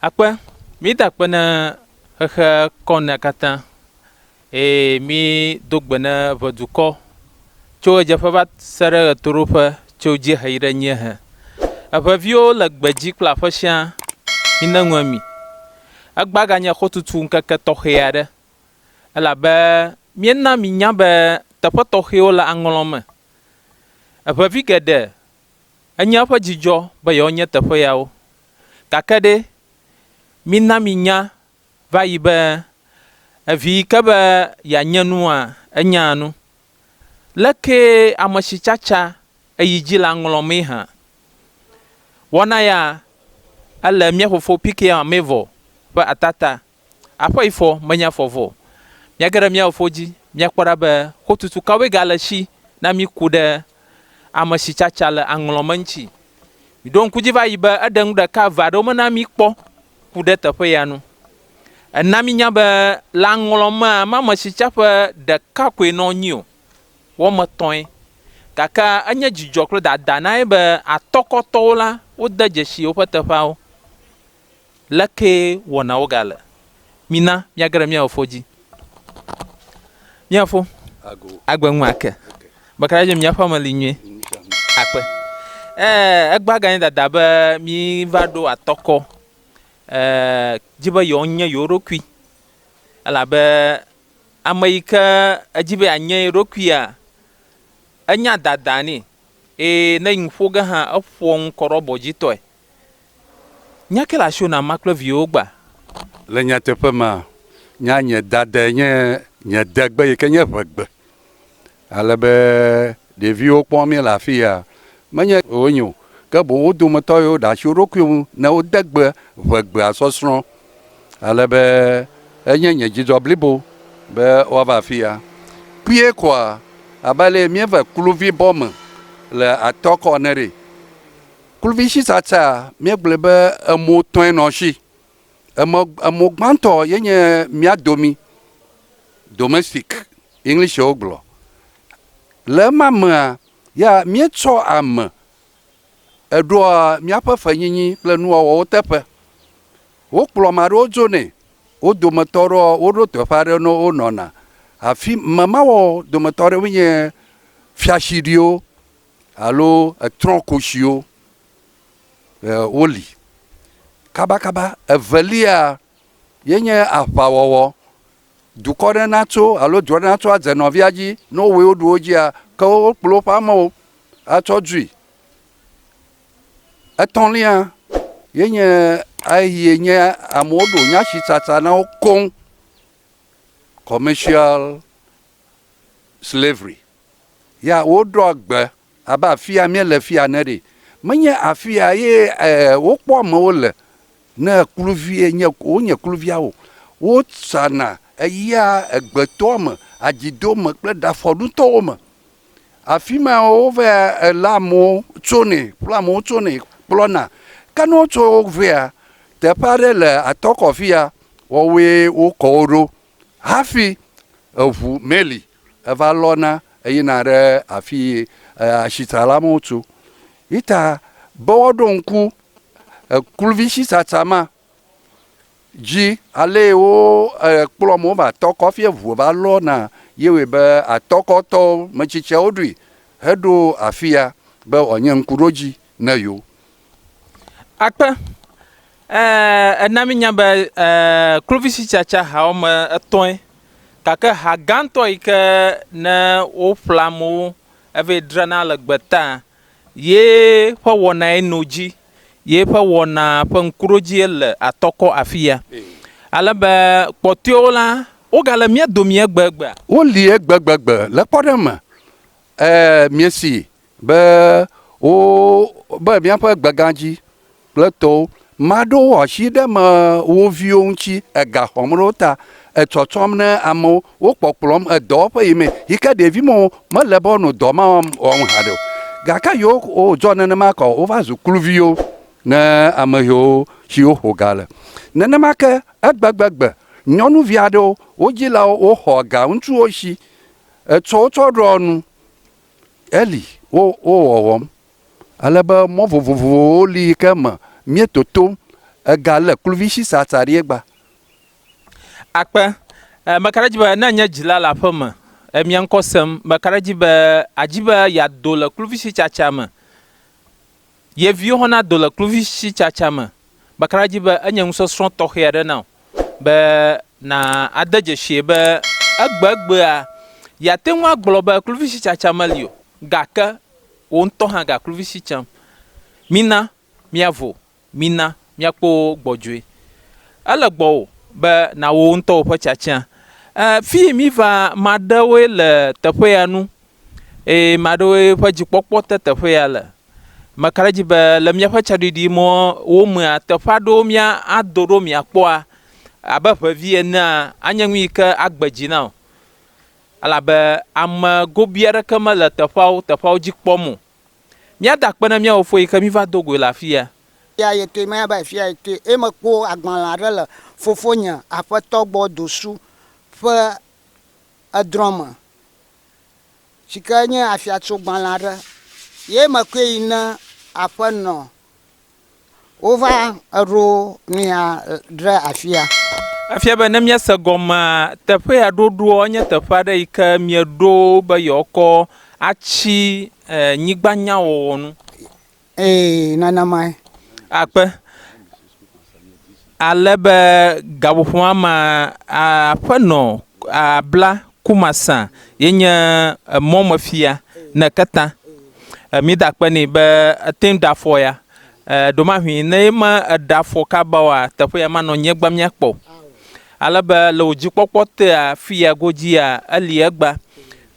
Akpe, mída akpe ne xexe kɔnea katã, eye mído gbe ne ʋe dukɔ, tso ɣedzeƒe va se ɖe ɣetoɖoƒe, tso dziehe yi ɖe nyiehe. Eʋe viwo le gbedzi kple aƒe siã, mine ŋu emi. Egbea ganye xotutu ŋkeke tɔxɛ aɖe, elabe míena minya be teƒe tɔxɛwo le aŋlɔ me. Eʋe vi geɖe Enye eƒe dzidzɔ be yewoanye teƒe yawo. Gake ɖe, mina míanya va yi be, evi yi ke be yeanye nua, enyaa nu. Lekee ame si tsatsa eyi dzi la ŋlɔmee hã. Wɔna ya, ele mía fofo Pikiya Mevor ƒe atata Aƒe yi fɔ, menye afɔ vɔ o. Míage ɖe mía Fofo dzi, míakpɔ ɖa be xotutu kawoe gale esi na mí ku ɖe ame si tsatsa le aŋlɔ me ŋuti. Miɖo ŋku edzi va yi be eɖe nu ɖeka eve aɖewo mena mí kpɔ ku ɖe teƒe ya ŋu. Ena mínya be le aŋlɔ mea, mame si tsa ƒe ɖeka koe nɔ anyi o, wɔme etɔ̃e. Gake enye dzidzɔ kple dada na ye be atɔkɔtɔwo la, wode dzesi woƒe teƒeawo. Lekee wɔnawo gale? Mina míage ɖe mía Fofo dzi. Mía Fofo, agbe ŋu ake be kaka dze míaƒe ame li nyuie. Akpe. Ee, egbea ganye dada be mí va ɖo atɔkɔ ee, dzi be yewo nye yewo ɖokui. Elabe ame yi ke edzi be anye ye ɖokuia, enya dada nɛ. Eye ne yi ŋu ƒo ge hã, eƒoa ŋu kɔ ɖe abɔ dzi tɔe. Nya ke le asiwò na ma kple viwòwo gbã. Le nyateƒe me, nya nye dadae nye nye degbe yi ke nye ʋegbe. Ale be ɖeviwo kpɔ mí le afi ya menye wonye o, ke boŋ wo dometɔ yiwo ɖe asi wo ɖokui ŋu ne wode gbe ʋegbea sɔsrɔ̃. Ale be enye nye dzidzɔ blibo be woava afi ya. Kpuie koa, abe ale mieve kluvi bɔ me le atɔ kɔ ene ɖe. Kluvisitsatsea, míegblɔe be emɔ etɔ̃e nɔ esi. Emɔ, emɔ gbãtɔ ye nye mía domi, domestic, English wogblɔ. Le ema mea, ya míetsɔ ame eɖoa míaƒe fenyinyi kple nuwɔwɔwo teƒe. Wokplɔ ame aɖewo dzonɛ, wo dometɔ aɖewo woɖo teƒe aɖe ne wonɔna. Afi memawɔ dometɔ aɖewoe nye fiashiɖiwo, alo etrɔ̃ kotsiwo e, woli. Kabakaba evelia ye nye aʋawɔwɔ. Dukɔ ɖe natso alo du aɖe natso adze nɔvia dzi ne wowɔe woɖu wo dzia, ke wokplɔ woƒe amewo atsɔ dui. Etɔ̃lia ye nye eyi nye amewo ɖo nyasitsatsa na wo koŋ, commercial slavery. ya woɖɔa gbe abe afia míele fia ene ɖe. Menye afia ye wokpɔ amewo le ne kluvie nye wonye kluvia o. Wozana eyia egbetɔa me, adzido me kple ɖafɔɖutɔwo me. Afi ma wova lé amewo tsonɛ kple amewo tsonɛ kplɔna. Ke ne wotso vea, teƒe aɖe le atɔ kɔ fia wɔwoe wokɔ wo ɖo. Hafi eŋu meli, eva lɔna eyina ɖe afi yi asitsala mawo tso. Yi ta be woaɖo ŋku ekluvi sitsatsa ma dzi, ale yi wo kplɔm wova tɔ kɔ hafi eŋu va lɔna ye wɔe be atɔkɔtɔwo, metsitsiawo ɖoe heɖo afi ya be wòanye ŋkuɖodzii. ne yo. Akpe, Ẽ, ena míenya be ẽ, kluvitsitsatsa ha woame etɔ̃e, gake ha gãtɔ yi ke ne woƒlea amewo evee drana le gbe taa, ye ƒe wɔnae no edzi, ye ƒe wɔna ƒe ŋkuɖodzie le atɔkɔ afiya. Ale be kpɔtɔewo la, wogale mía domii egbegbea? Woli egbegbe le kpɔɖeŋu me. Ẽ, miesee Be wo, be míaƒe gbegã dzi kple tɔwo maɖo asi ɖe eme wo viwo ŋuti ega xɔm ɖe wo ta, etsɔtsɔm ne amewo, wo kpɔkplɔm edɔwo ƒe yi me yi ke ɖevi me wo mele be wonɔ dɔ ma wɔm wɔm haɖe o. Gake yewo ko dzɔ nenema ke o, wova zu kluviwo ne ame yiwo si woƒo ga le. Nenema ke egbegbe-gbe nyɔnuvi aɖewo, wo dzilawo woxɔ ga ŋutsuwo si etsɔ wo tsɔ ɖɔ nu Eli, wo wo wɔwɔm ale be mɔ vovovowo li yi ke me mie totom ega le kluvi shi sa sa ɖie gba. Akpe, E meka ɖe edzi be ne nye dzila le aƒe me e mia ŋkɔ sem, meka ɖe edzi be adzi be ya do le kluvi shi tsa tsa me. Ye viwo hã nado le kluvisitsatsa me bakaa dzi be enye nusɔsrɔ̃ tɔxɛ aɖe na wò be nàde dzesii be egbegbea yeate ŋu agblɔ be kluvisitsatsa meli o, gake wò ŋutɔ hã ga kluvisi tsam. Mina míavo, mina míakpɔ wo gbɔdzɔe. Ele gbɔwò be nàwɔ wò ŋutɔwò ƒe tsatsia. E, fii míva, ame aɖewoe le teƒe ya nu eye ame aɖewoe ƒe dzikpɔkpɔ te teƒe ya le. Meka ɖe edzi be le míaƒe tsaɖiɖimɔwo mea, teƒe aɖewo míado ɖo miakpɔa, abe ŋevi enea, anye nu yi ke agbe dzi na wò. Elabe ame gobii aɖeke mele teƒeawo, teƒeawo dzi kpɔm o. Míada akpe na mía Fofo yi ke míva do goe le afia. Eya ye ke menya be afia ye ke ye mekpɔ agbalẽ aɖe le fofonye aƒetɔ gbɔ dosu ƒe edrɔ̃ me. si ke nye afiatsogbalẽ aɖe ye mekɔe yi ne aƒenɔ wova eɖo nɛa ɖe afia. Efia be ne míese gɔmea, teƒe ya ɖoɖoa enye teƒe aɖe yi ke mieɖo be yewoakɔ atsi e nyigbanyawɔwɔ nu. Ee, nana mae. Akpe. Ale be gaƒoƒoa ma aƒenɔ abla kumasa ye nye emɔ me fia ne keta mi da kpe ni be ete da fɔ ya ɖo ma hui ne ye ma da fɔ ka ba wa teƒe ya ma nɔ nye gba mia kpɔ ale be le o dzi kpɔkpɔ te a fi ya go dzi ya eli egba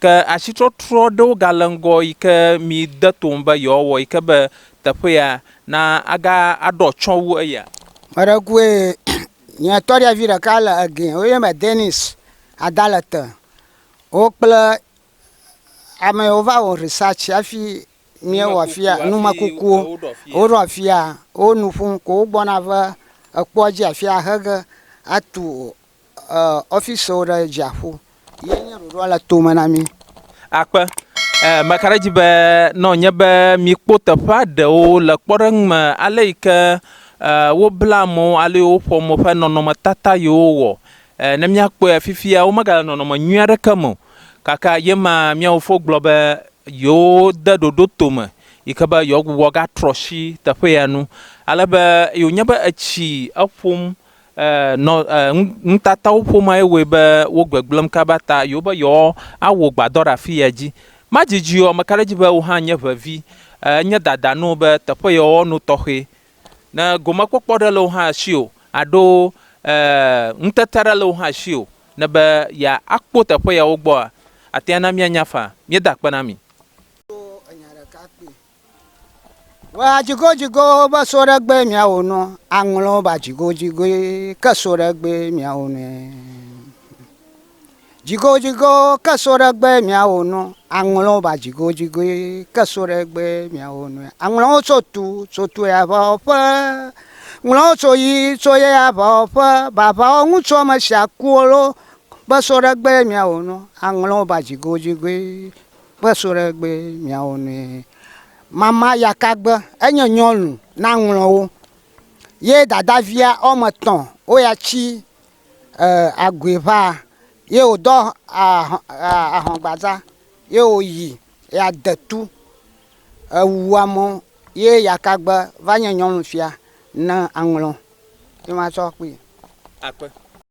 Ke asitrɔtrɔ ɖewo gale ŋgɔ yi ke mi de to ŋu be yewoawɔ yi ke be teƒe ya na aga aɖɔ atsyɔ̃ wu eya. Me ɖe kue nye tɔɖevi ɖeka le ege wo yɔnɛ be Dennis Adalete. Wo kple ame yiwo va wɔ research hafi míewɔ afia numekukuwo. Woɖo afia wo nu ƒom ko wogbɔna va ekpɔa dzi afia hege atu ɔfisiwo ɖe dziaƒo ye nye ɖoɖoa le to me na mí. Akpe. Ee, meka ɖe edzi be ne wònye be míekpɔ teƒea ɖewo le kpɔɖeŋu me ale yi ke wobla mɔ alo woƒo mɔ ƒe nɔnɔmetata yi wowɔ ne míakpɔe fifia womegale nɔnɔme nyui aɖeke me o. Gake ye ma mía fofo gblɔ be yewode ɖoɖo to me yi ke be yewoagbugbɔ agatrɔ asi teƒe ya nu ale be ye wònye be etsi eƒom E nɔ e nutatawo ƒoma ye wɔe be wo gbegblẽm kaba ta yewo be yewoa awɔ gbadɔ ɖe afi ya dzi. Ma didi o, meka ɖe edzi be wò hã nye ʋevi. E nye dada na wò be teƒe ye wɔwɔ no tɔxɛ. Ne gomekpɔkpɔ ɖe le wò hã si o alo e ŋutete ɖe le wò hã si o ne be ya akpɔ teƒe ya wo gbɔa, atea na mia nya faa. Mia da akpe na mi. Ɖo enya ɖeka kpɔe. Wa dzigodzigo be so ɖe gbe miawo nɔ aŋlɔ ba dzigodzigoe ke so ɖe gbe miawo nɔe. Dzigodzigo ke so ɖe gbe miawo nɔ aŋlɔ ba dzigodzigoe ke so ɖe gbe miawo nɔe. Aŋlɔwo so tu so tu ya va ƒe. Ŋlɔwo so yi so ye ya va ƒe. Bavawo ŋutsu ame sia kuwo lo be so ɖe gbe miawo nɔ aŋlɔ ba dzigodzigoe. Kpe so ɖe gbe miawo nue. Mama yakagbe enye nyɔnu na ŋlɔwo ye dadavia ɔme tɔ wo ya tsi e agui ʋa ye wo dɔ ahɔn gbadza ye wo yi ya de tu ewu amɔ ye yakagbe va nye nyɔnu fia ne aŋlɔ ye ma tsɔ kpui. Akpe.